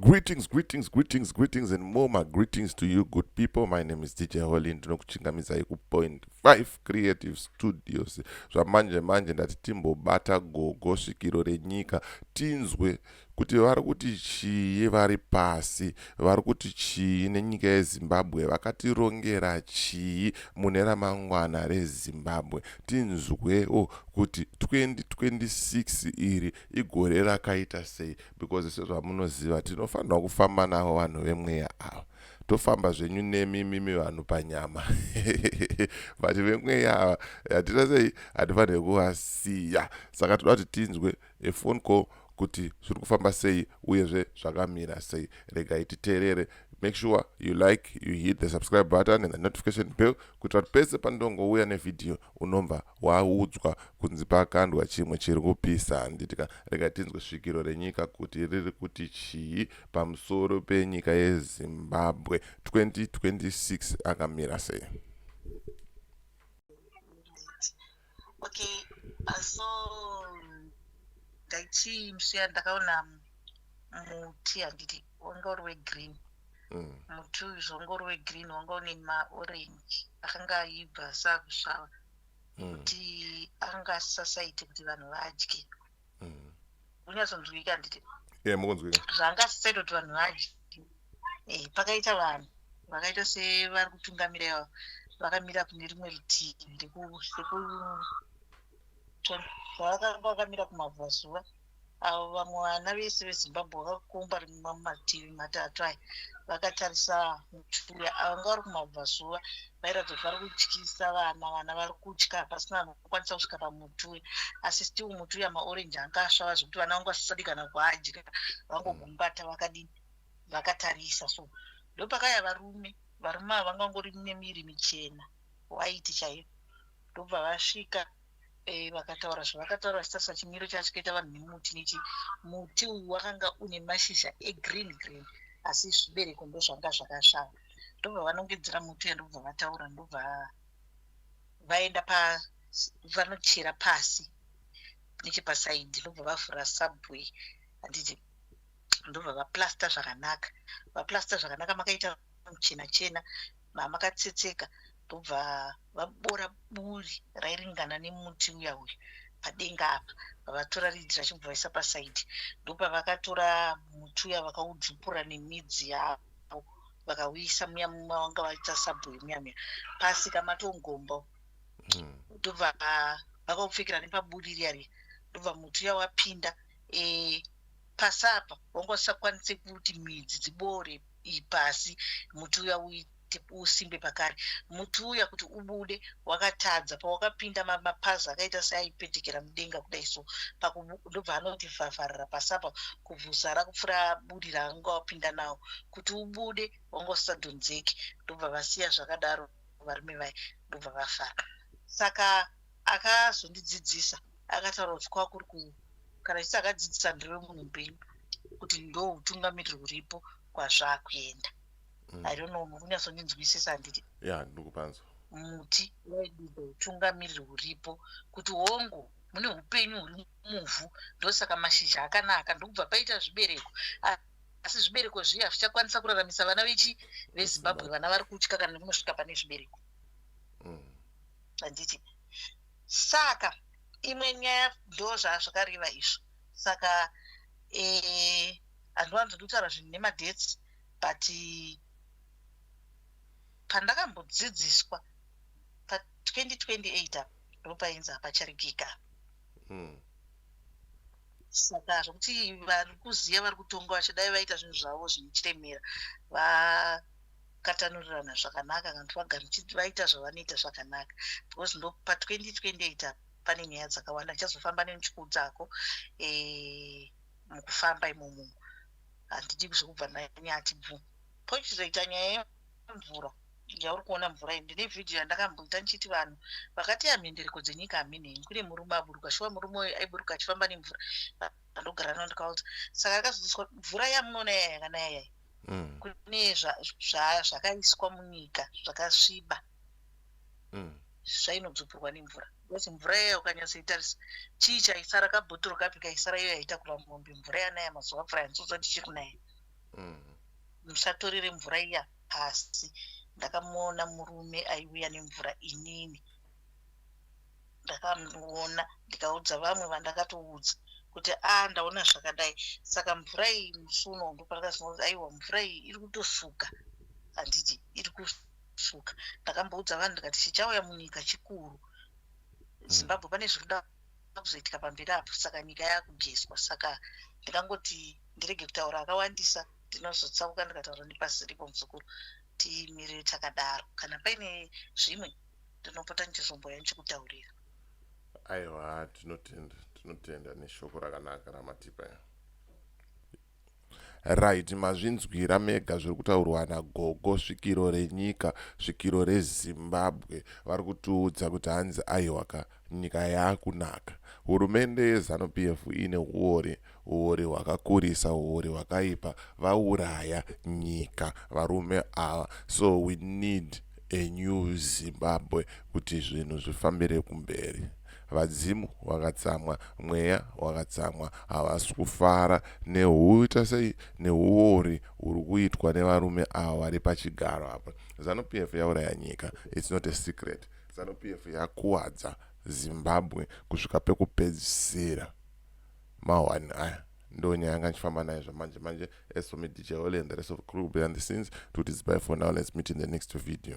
Greetings, greetings, greetings, greetings, and more my greetings to you, good people. My name is DJ Holly. Ndinokuchingamidzai ku Point 5 Creative Studios. Zvamanje manje ndati timbobata gogo svikiro renyika tinzwe kuti vari kuti chii vari pasi vari kuti chii nenyika yezimbabwe vakatirongera chii mune ramangwana rezimbabwe tinzwewo kuti 2026 iri igore rakaita sei because sezvamunoziva tinofanirwa kufamba navo vanhu vemweya ava tofamba zvenyu nemi mimi vanhu panyama but vemweya ava hatita sei hatifanire kuvasiya saka toda kuti tinzwe efone call kuti zviri kufamba sei uyezve zvakamira sei regai titeerere make sure you like you hit the subscribe button and the notification bell kuitira kuti pese pandongouya nevhidhiyo unomva waudzwa kunzi pakandwa chimwe chiri kupisa handiti ka rega tinzwe svikiro renyika kuti riri kuti chii pamusoro penyika yezimbabwe 2026 akamira sei okay uh, so ndaichii msiya ndakaona muti handiti wanga uri wegreen mm. muti uyu zvongo uri wegreen wanga une maorange akanga aibva sakusvava mm. kuti anga asisasaiti kuti vanhu vadye mm. unyatsonzwika handiti zvanga asisaita kuti vanhu vadye eh, pakaita vanhu vakaita sevari kutungamira ivavo vakamira kune rimwe rutivi rekuvakamira kumabvazuva avo vamwe vana vese vezimbabwe vakakomba rimwe mumativi matatu aya vakatarisa mutuya ava nga vari kumabvazuva vairatidza kuti vari kutyisa vana vana vari kutya pasina vanokwanisa kusvika pamutuya asi still mutuya maorenji anga asvava zvekuti vana vangu vasisadi kana kuadya vangogumbata vakadini vakatarisa so ndopakaya varume varume ava vangangori nemiri michena waiti chaiyo ndobva vasvika Eh, vakataura zvavakataura vachitarisa chimiro chachikaita vanhu nemuti nechi muti uyu wakanga une mashizha egreen green asi zvibereko ndozvanga zvakashava ndobva vanongedzera muti uya ndobva vataura ndobva vaenda pa vanochera pasi nechepasaidhi ndobva vavhura subway handiti ndobva vaplasta zvakanaka vaplasta zvakanaka makaita muchena chena mamakatsetseka ndobva vabora buri rairingana nemuti uya uyu padenga apa vavatora ridhi rachibva vaisa pasaidi ndopavakatora muti uya vakaudzupura nemidzi yavo vakauisa muya mumwe vanga vaita sabhoyi muya muya pasi kamatongombo hmm. ndobva vakaupfekera nepaburi riya riya ndobva muti uya wapinda e, pasi apa wanga usakwanise kuti midzi dziboore pasi muti uya usimbe pakare muti uya kuti ubude wakatadza pawakapinda mapazi akaita seaipetekera mudenga kudai so ndobva anoti vhavharira pasi apa kubvuzara kupfura buri raanga wapinda nawo kuti ubude wanga usadhonzeki ndobva vasiya zvakadaro varume vaye ndobva vafara saka akazondidzidzisa akataura kuti kwakuri ku kana chisi akadzidzisa ndiriwe munhu mupenyu kuti ndo utungamiriri huripo kwazvakuenda mm. i don't know mukunyasondinzwisisa handiti ya ndikupanzwa muti waidida utungamiriri huripo kuti hongu mune upenyu huri muvhu ndosaka mashizha akanaka ndokubva paita zvibereko asi zvibereko zviye hazvichakwanisa kuraramisa vana vechi vezimbabwe vana vari kutya kana nemunosvika pane zvibereko mm. handiti saka imwe nyaya ndo zvazvakareva izvo saka eh, handiwanzi ndikutaura zvinhu nemadates but pandakambodzidziswa pa 2028 apa ndopainzi hapacharigika hmm. saka zvokuti vari kuziva vari kutonga vachidai vaita zvinhu zvavo zvinochiremera katanurirana zvakanaka kana kuti vagari vaita zvavanoita zvakanaka because ndo pa 2028 apa pane nyaya dzakawanda ndichazofamba nemuchikudzako e, eh, mukufamba imomo handidi zvekubva nanyati bvu pochizoita nyaya yemvura yauri kuona mvura iyi ndine vhidhiyo yandakamboita ndichiti vanhu vakati ya mhendereko dzenyika haminei kune murume aburuka shuwa murume uyu aiburuka achifamba nemvura andogara nao ndikaudza saka akazodziswa mvura yamunoona yaya yakanaya yaya mm. kune zvakaiswa munyika zvakasviba mm. zvainodzupurwa nemvura because mvura iya ukanyatsoitarisa chii chaisara kabhotoro kapi kaisara iyo yaitakura mombe mvura yanaya mazuva mvura yanzodza tichiri kunaya mm. musatorere mvura iya pasi ndakamuona murume aiuya nemvura inini ndakamuona ndikaudza vamwe vandakatoudza kuti a ah, ndaona zvakadai saka mvura iyi musi uno ndopandakazonoti aiwa mvura iyi iri kutosuka handiti iri kusuka ndakamboudza vanhu ndikati chichauya munyika chikuru hmm. zimbabwe pane zviri kuda kuzoitika pamberi apo saka nyika yakugeswa saka ndikangoti ndirege kutaura akawandisa ndinozotsauka ndikataura nepasi ripo muzukuru timirire takadaro kana paine zvimwe ndinopota ndichizomboya ndichikutaurira aiwa tinotenda tinotenda neshoko rakanaka ramatipa right mazvinzwira mega zviri kutaurwa nagogo svikiro renyika svikiro rezimbabwe vari kutiudza kuti hanzi aiwa ka Nyika yaakunaka. Hurumende yeZanu PF ine huori, huori hwakakurisa, huori hwakaipa. Vauraya nyika varume ava so we need a new Zimbabwe kuti zvinhu zvifambire kumberi. Vadzimu vakatsamwa, mweya wakatsamwa, havasi kufara nehuita sei nehuori huri kuitwa nevarume ava vari pachigaro apa. Zanu PF yauraya nyika, it's not a secret. Zanu PF yakuwadza Zimbabwe kusvika pekupedzisira. Mahwani aya ndo nyaya yanga ndichifamba nayo zvamanje manje as for me DJ Holy and the rest of the crew behind the scenes to this bye for now let's meet in the next video.